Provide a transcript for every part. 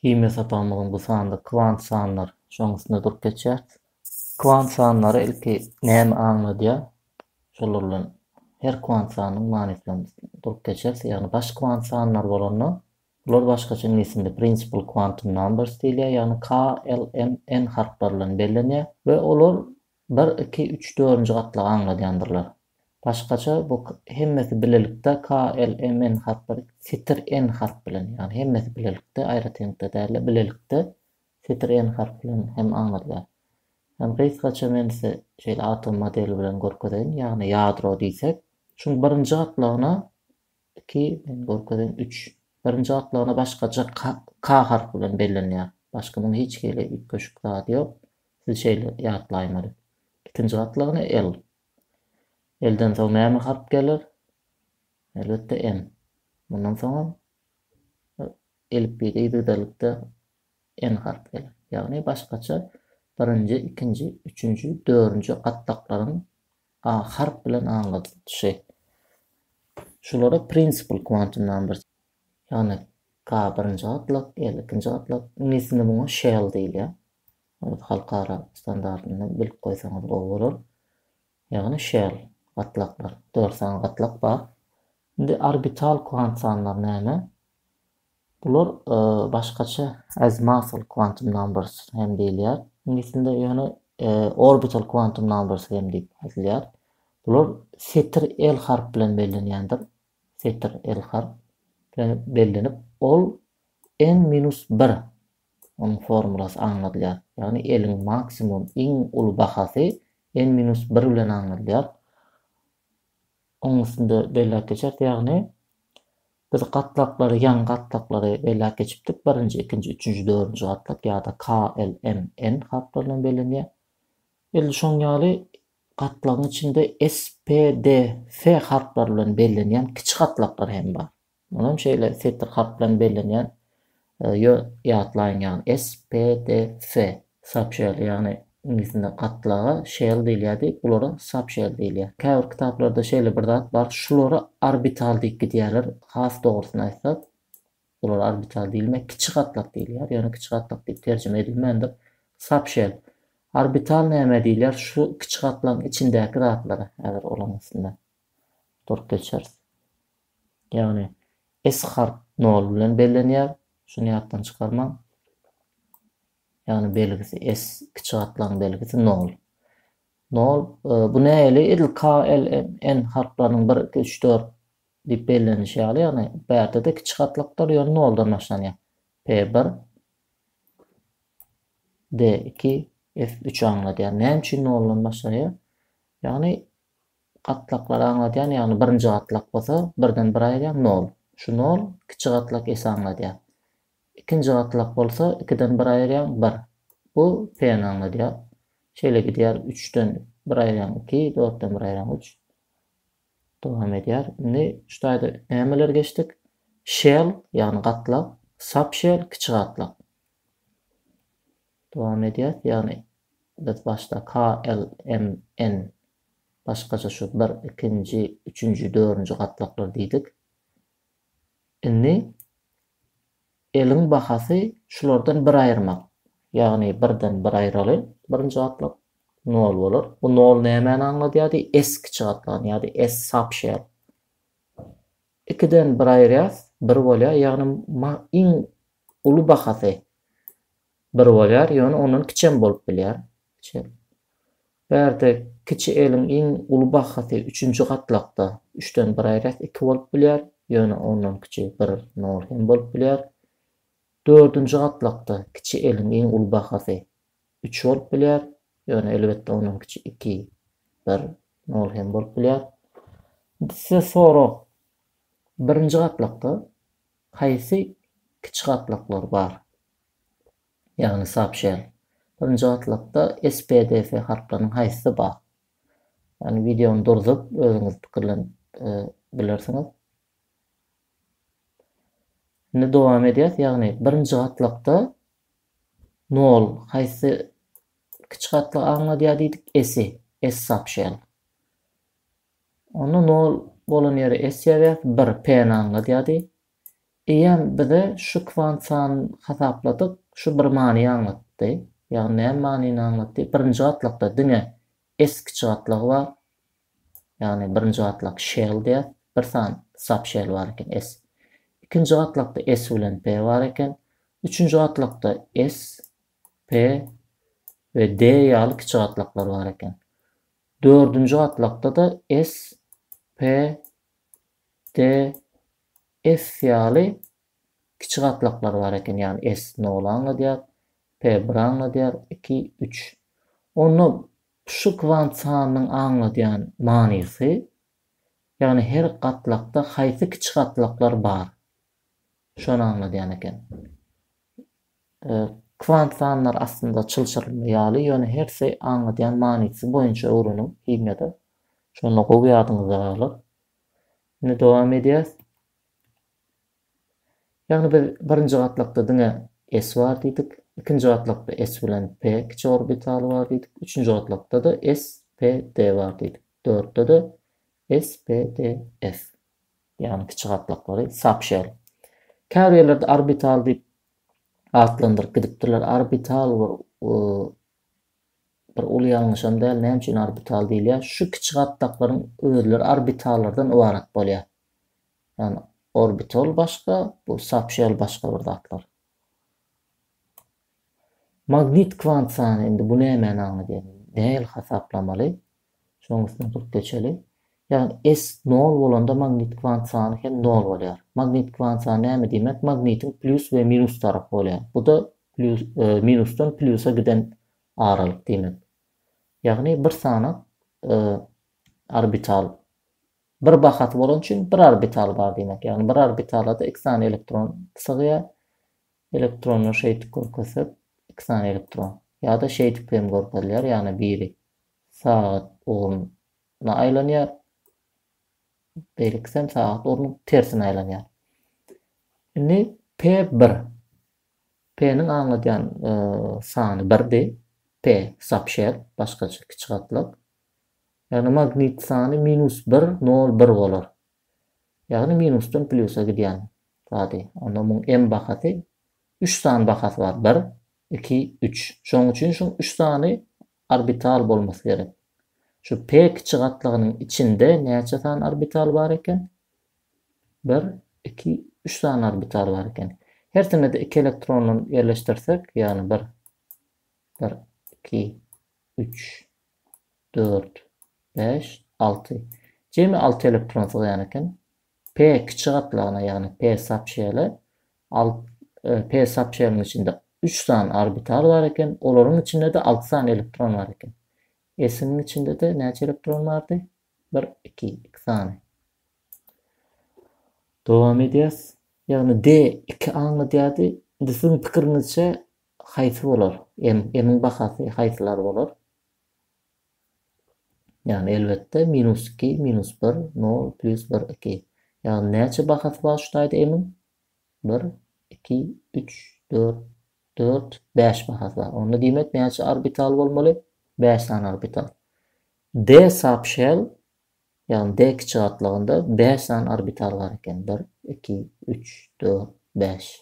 Himiýa sapagymyzyň bu sanynda kwant sanlar, şonuň üstünde durup geçýäris. Kwant sanlary ilki näme aňladýar? Şolar bilen her kwant sanynyň manysy bilen durup geçeris. Ýagny baş kwant sanlar bolanda, bular başgaça iňlis dilinde principal quantum numbers diýilýär, ýagny KLMN harplary bilen bellenýär we olar Bir, iki, üç, dördünji gatlagy aňladýandyrlar. Başgaça bu hemmesi bilelikde KLMN harplar setir N harp bilen, ýagny hemmesi bilelikde, aýratynlykda däl-de, bilelikde setir N harp bilen hem aňladýar. Hem gysgaça men size şeýle atom modeli bilen görkezeýin, ýagny ýadro diýsek, şuň birinji gatlagyna Iki, men görkezeýin, üç. Birinji gatlagyna başgaça K harpy bilen bellenýär. Başga muň hiç hili üýtgeşik zady ýok. Siz şeýle ýatlaýmaly. Ikinji gatlagyna L. L-den soň näme harp geler? Elbetde N. Mundan soňam elipbiýde ýygydalikde N harp geler. Ýagny başgaça birinji, ikinji, üçünji, dörünji gatlaklaryň A harp bilen aňladylyşy. Şulara principal quantum numbers. Ýagny K birinji gatlak, L ikinji gatlak. Iňlisinde muňa shell diýilýär. Ony halkara standartynda bilip goýsaňyz gowy bolar. Ýagny shell gatlaklar. Dört sany gatlak bar. Indi orbital kwant sanlar näme? Bular başgaça Azmassal quantum numbers hem diýilýär iňlis dilinde, ýöne orbital quantum numbers hem diýip aýdylýar. Bular setir L harp bilen bellenýändir. Setir L harp bilen bellenip, ol n minus bir onuň formulasy aňladylýar. Ýagny L-iň maksimum iň uly bahasy n minus bir bilen aňladylýar. Onuň üstünde belläp geçeris, ýagny biz gatlaklary, ýan gatlaklary belläp geçipdik, birinji, ikinji, üçünji, dördünji gatlak ýa-da K, L, M, N harplary bilen bellenýär. Edil şoň ýaly gatlagyň içinde S, P, D, F harplary bilen bellenýän kiçi gatlaklar hem bar. Munam şeýle setir harp bilen bellenýän ýö ýatlaýyň ýagny SPDF Subshell ýagny iňlisinde gatlaga shell diýilýärdi bulara subshell diýilýär käbir kitaplarda şeýle bir zat bar şulara orbital diýip gidýärler has dogrusyny aýtsak bulara orbital diýilmä kiçi gatlak diýilýär ýöne kiçi gatlak diýip terjime edilmändir subshell orbital nämä diýilýär şu kiçi gatlagyň içindäki zatlara häzir olaň üstünde durup geçeris. Ýagny, S harp nol bilen bellenýär, şuny ýatdan çykarmaň. Ýagny belgisi S kiçi gatlagyň belgisi nol. Nol, bu nähili edil K, L, M, N harplarynyň bir, iki, üç, dört diýip bellenişi ýaly, ýagny bärde-de kiçi gatlakdyr, ýöne noldan başlanýar. P bir, D iki, F üç aňladýar. Näme üçin noldan başlanýar? Ýagny gatlaklary aňladýan, ýagny birinji gatlak bolsa birden bir aýyrýan nol. Şu nol kiçi gatlak S-i aňladýar. Ikinji gatlak bolsa ikiden bir aýyrýan bir. Bu P-ni aňladýar. Şeýle gidýär üçden bir aýyrýan iki, dörtden bir aýyrýan üç. Dowam edýär. Indi şu taýda nämeleri geçdik? Shell, ýagny gatlak, subshell, kiçi gatlak. Dowam edýäs, ýagny biz başda KLMN başgaça şu bir, ikinji, üçünji, dörünji gatlaklar diýdik. Indi L-iň bahasy şulardan bir aýyrmak. Ýagny birden bir aýyraly, birinji gatlak nol bolar. Bu nol nämäni aňladýardy? S kiçi gatlagyny ýa-da S subshell. Ikiden bir aýyrýas, bir bolýar, ýagny ma iň uly bahasy bir bolýar, ýöne ondan kiçem bolup bilýär. Ç. Bärde kiçi eliň iň uly bahasy üçünji gatlakda üçden bir aýyrýas, iki bolup bilýär, ýöne ondan kiçi bir, nol, hem bolup bilýär. Dördünji gatlakda kiçi eliň iň uly bahasy üç bolup bilýär, ýöne elbetde ondan kiçi iki, bir, nol hem bolup bilýär. Indi size sorag, birinji gatlakda haýsy kiçi gatlaklar bar? Ýagny soobşen. Birinji gatlakda SPDF harplarynyň haýsysy bar? Ýagny wideony durzup, özüňiz pikirlenip bilersiňiz. Indi dowam edýäs, ýagny birinji gatlakda Nol, haýsy kiçi gatlagy aňladýar diýdik? S-i, S sapşel. Onda nol bolan ýere S ýazýas, bir, P-ni aňladýardy. Eýýäm bize şu kwant sanyny hasapladyk, şu bir many aňlatdy. Ýagny näme manyny aňlatdy? Birinji gatlakda diňe S kiçi gatlagy bar. Ýagny birinji gatlak shell diýýär. Bir sany subshell bar eken S. Ikinji gatlakda S bilen P bar eken. Üçünji gatlakda S, P we D ýaly kiçi gatlaklar bar eken. Dördünji gatlakda-da S, P, D, F ýaly kiçi gatlaklar bar eken. Ýagny S noly aňladýar, P biri aňladýar, iki, üç. Onda Şu kwant sanynyň aňladýan manysy, ýagny her gatlakda haýsy kiçi gatlaklar bar, şony aňladýan eken. Kwant sanlar aslynda çylşyrymly ýaly, ýöne hersi aňladýan manysy boýunça öwreniň himiýada, şonda gowy ýadyňyzda galar. Indi dowam edýäs. Ýagny biz birinji gatlakda diňe S bar diýdik, ikinji gatlakda S bilen P kiçi orbitaly bar diýdik, üçünji gatlakda-da S, P, D bar diýdik, dörtde-de S, P, D, F. Ýagny kiçi gatlaklary sapşel. Käbir ýerlerde orbital diýip atlandyryp gidipdirler. Orbital bir bir uly ýalňyşam däl. Näme üçin orbital diýilýär? Şu kiçi gatlaklaryň özleri orbitallardan ybarat bolýar. Ýagny orbital başga, bu soobşýal başga bir zatlar. Magnit kwant sany indi bu nämäni aňladýar? Nähili hasaplamaly? Şoň üstünden durup geçeli. Ýagny S nol bolanda magnit kwant sany hem nol bolýar. Magnit kwant sany näme diýmek? Magnitiň plýus we minus tarapy bolýar. Bu-da plýus minusdan plýusa giden aralyk diýmek. Ýagny bir sany orbital Bir bahasy bolany üçin bir orbitaly bar diýmek. Ýagny bir orbitalada iki sany elektron sygýar. Elektronlar şeýdip görkezsek, iki sany elektron. Ýa-da şeýdip hem görkezilýär, ýagny biri sagat ugruna aýlanýar, beýlekisi hem sagat ugrunyň tersine aýlanýar. Indi P bir. P-niň aňladýan sany birdi. P subshell, başgaça kiçi gatlag. Ýagny magnit sany minus bir, nol, bir bolar. Ýagny minusdan plýusa gidýän zady. Onda muň m bahasy üç sany bahasy bar, bir, iki, üç. Şoň üçin şu üç sany orbital bolmasy gerek. Şu p kiçi gatlagynyň içinde näçe sany orbital bar eken? Bir, iki, üç sany orbital bar eken. Hersinde-de iki elektronly ýerleşdirsek, ýagny bir, bir, iki, üç, dört, bäş, alty. Jemi alty elektron sygýan eken. P kiçi gatlagyna, ýagny P subşeli, al, e, P subşeliniň içinde üç sany orbital bar eken, olaryň içinde-de alty sany elektron bar eken. S-niň içinde-de näçe elektron bardy? Bir, iki, iki sany. Dowam edýäs. Ýagny D iki aňladýardy. Indi siziň pikiriňizçe Haýsy bolar? M. M-iň bahasy haýsylar bolar? Ýagny, elbetde, minus iki, minus bir, nol, plýus bir, iki. Ýagny, näçe bahasy bar şu taýda M-iň? Bir, iki, üç, dört, dört, bäş bahasy bar. Onda diýmek, näçe orbitaly bolmaly? Bäş sany orbital. D subshell, ýagny D kiçi gatlagynda bäş sany orbital bar eken. Bir, iki, üç, dört, bäş.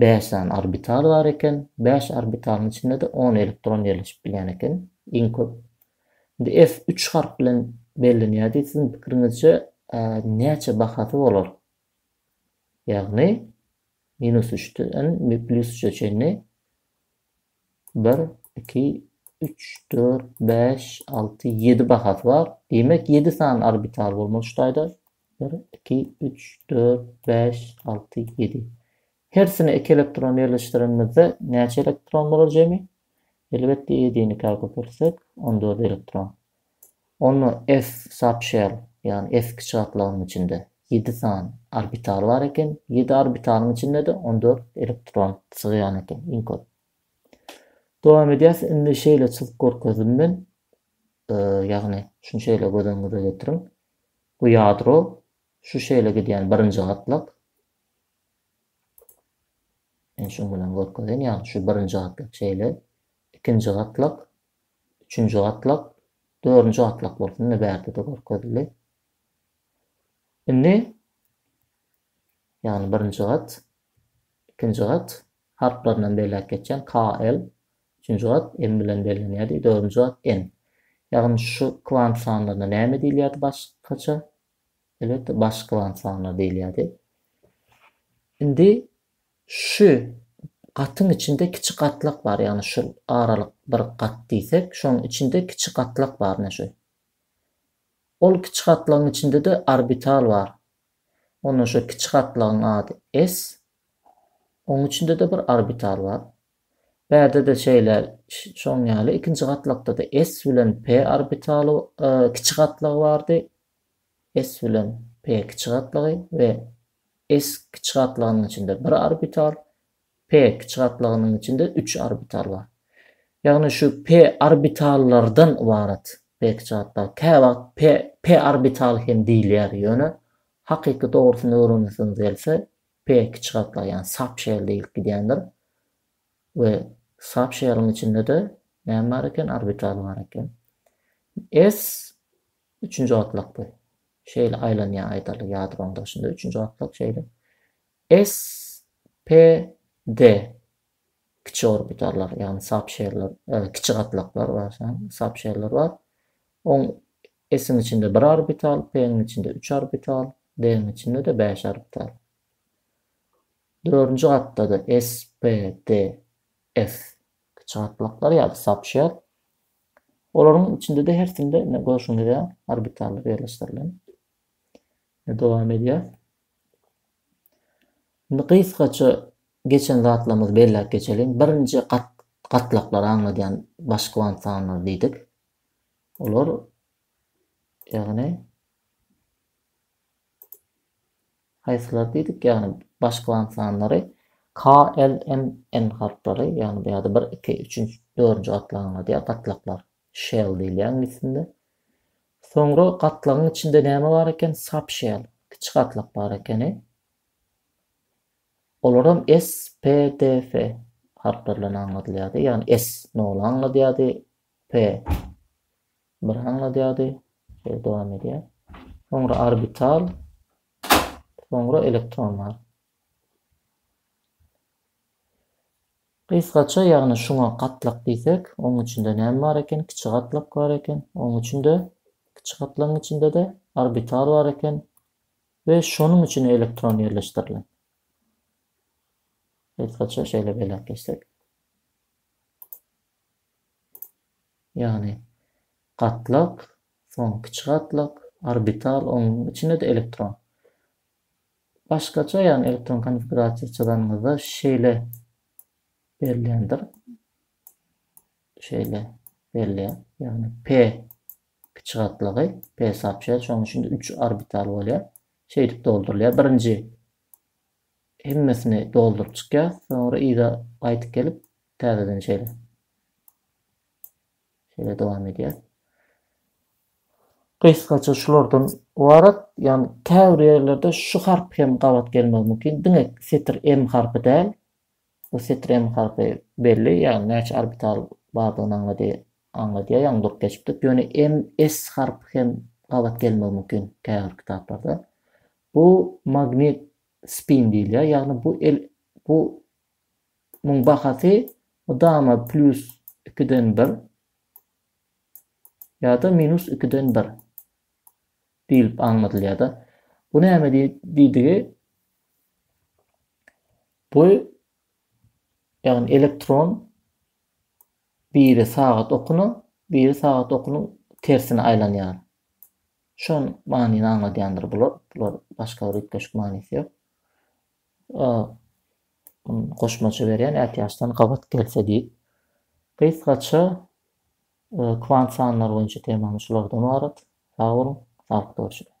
Bäş sany orbital bar eken. Bäş orbitalyň içinde-de on elektron ýerleşip bilýän eken, iň köp. Indi S üç harp bilen bellenýär diýip, siziň pikiriňizçe näçe bahasy bolar? Ýagny minus üçden plýus üçe çenli bir, iki, üç, dört, bäş, alty, ýedi bahasy bar. Diýmek, ýedi sany orbital bolmaly şu taýda. Bir, iki, üç, dört, bäş, alty, ýedi. Hersine iki elektron ýerleşdirenimizde näçe elektron bolar jemi? Elbetde ýedini ka köpeltsek, on dört elektron. Onda S subshell, ýagny S kiçigatlagynyň içinde ýedi sany orbital bar eken. Ýedi orbitalyň içinde-de on dört elektron sygýan eken, iň köp. Dowam edýäs. Indi şeýle çyzyp görkezdim men. Ýagny şuny şeýle göz öňüňize getiriň. Bu ýadro şu şeýle gidýän birinji gatlak. Men şuň bilen görkezeýin, ýagny şu birinji gatlak şeýle, ikinji gatlak, üçünji gatlak, dördünji gatlak bolsun, ine bärde-de görkezildi. Indi ýagny birinji gat, ikinji gat harplaryndan belläp geçýän KL Üçünji gat m bilen bellenýärdi, dördünji gat n. Ýagny şu kwant sanlaryna näme diýilýärdi başgaça? Elbetde baş kwant sanlary diýilýärdi. Indi şu gatyň içinde kiçi gatlak bar, ýagny şul aralyk bir gat diýsek, şonuň içinde kiçi gatlak bar, ine şu. Ol kiçi gatlagyň içinde-de orbital bar. Onda şu kiçi gatlagyň ady s, onuň içinde-de bir orbital bar. Bärde-de şeýle, şoň ýaly, ikinji gatlakda-da S bilen P orbitaly kiçi gatlagy bardy, S bilen P kiçi gatlagy we S kiçi gatlagynyň içinde bir orbital, P kiçi gatlagynyň içinde üç orbital bar. Ýagny şu P orbitallardan ybarat P kiçi gatlagy. Käwagt P P orbitaly hem diýilýär, ýöne hakyky dogrusyny öwrenesigimiz gelse, P kiçi gatlagy ýagny subshell diýilip gidýändir we subshelliň içinde-de näme bar eken orbitaly bar eken. S üçünji gatlak bu. Şeýle aýlanýar aýdaly ýadronyň daşynda üçünji gatlak şeýle. S P D kiçi orbitallar, ýagny sapşerler, kiçi gatlaklar we sapşerler bar. Oň S-iň içinde bir orbital, P-niň içinde üç orbital, D-niň içinde-de bäş orbital. Dördünji gatda-da S, P, D, F kiçi gatlaklar ýa-da sapşer. Olaryň içinde-de hersinde indi görşüňiz ýaly orbitallar ýerleşdirilen. Dowam edýär. Indi gysgaça geçen zatlarymyzy belläp geçeliň. Birinji gat gatlaklary aňladýan baş kwant sanlary diýdik. Olar ýagny haýsylar diýdik ýagny baş kwant sanlary K, L, M, N harplary ýagny bu ýerde 1, 2, 3, 4-nji gatlagy aňladýar gatlaklar. shell diýilýär iňlis dilinde. Soňra gatlagyň içinde näme bar eken? Subshell, kiçi gatlak bar ekeni. Olaram SPDF harplary bilen aňladylýardy. Ýagny S noly aňladýardy, P bir aňladýardy. Şeýle dowam edýär. Soňra orbital, soňra elektron bar. Gysgaça, ýagny şuňa gatlak diýsek, onuň içinde näme bar eken, kiçi gatlak bar eken, onuň içinde, kiçi gatlagyň içinde-de, orbital bar eken we şonuň içine elektron ýerleşdirilen. Gysgaça şeýle belläp geçsek. Ýagny gatlak, soň kiçi gatlak, orbital, onuň içinde-de elektron. Başgaça ýagny elektron konfigurasiýa çyzanyňyzda şeýle berilýändir. Şeýle berilýär. Ýagny P kiçi gatlagy, P sapşer, şonuň üçin 3 orbital bolýar. Şeýdip doldurylýar. Birinji hemmesini dolduryp çykýar. Soňra yza gaýdyp gelip täzeden şeýle. Şeýle dowam edýär. Gysgaça şulardan ybarat. Ýagny käbir ýerlerde şu harp hem gabat gelmegi mümkin. Diňe setir M harpy däl. Bu setir M harpy belli, ýagny näçe orbital bardygyny aňlady, aňladýar, ýagny durup geçipdik. Ýöne M, S harpy hem gabat gelmegi mümkin käbir kitaplarda. Bu magnit spin diýilýär, ýagny bu el bu Muň bahasy mydama plýus ikiden bir ýa-da minus ikiden bir diýlip aňladylýar-da. Bu näme diýdigi? Bu ýagny elektron biri sagat okuna, biri sagat okunyň tersine aýlanýar. Şol manyny aňladýandyr bular. Bular başga bir üýtgeşik manysy ýok. A. Goşmaça berýän, ätiýaçdan gabat gelse diýip. Gysgaça kwant sanlary boýunça temamyz şulardan ybarat. Sag boluň, saglyk, görüşeliň!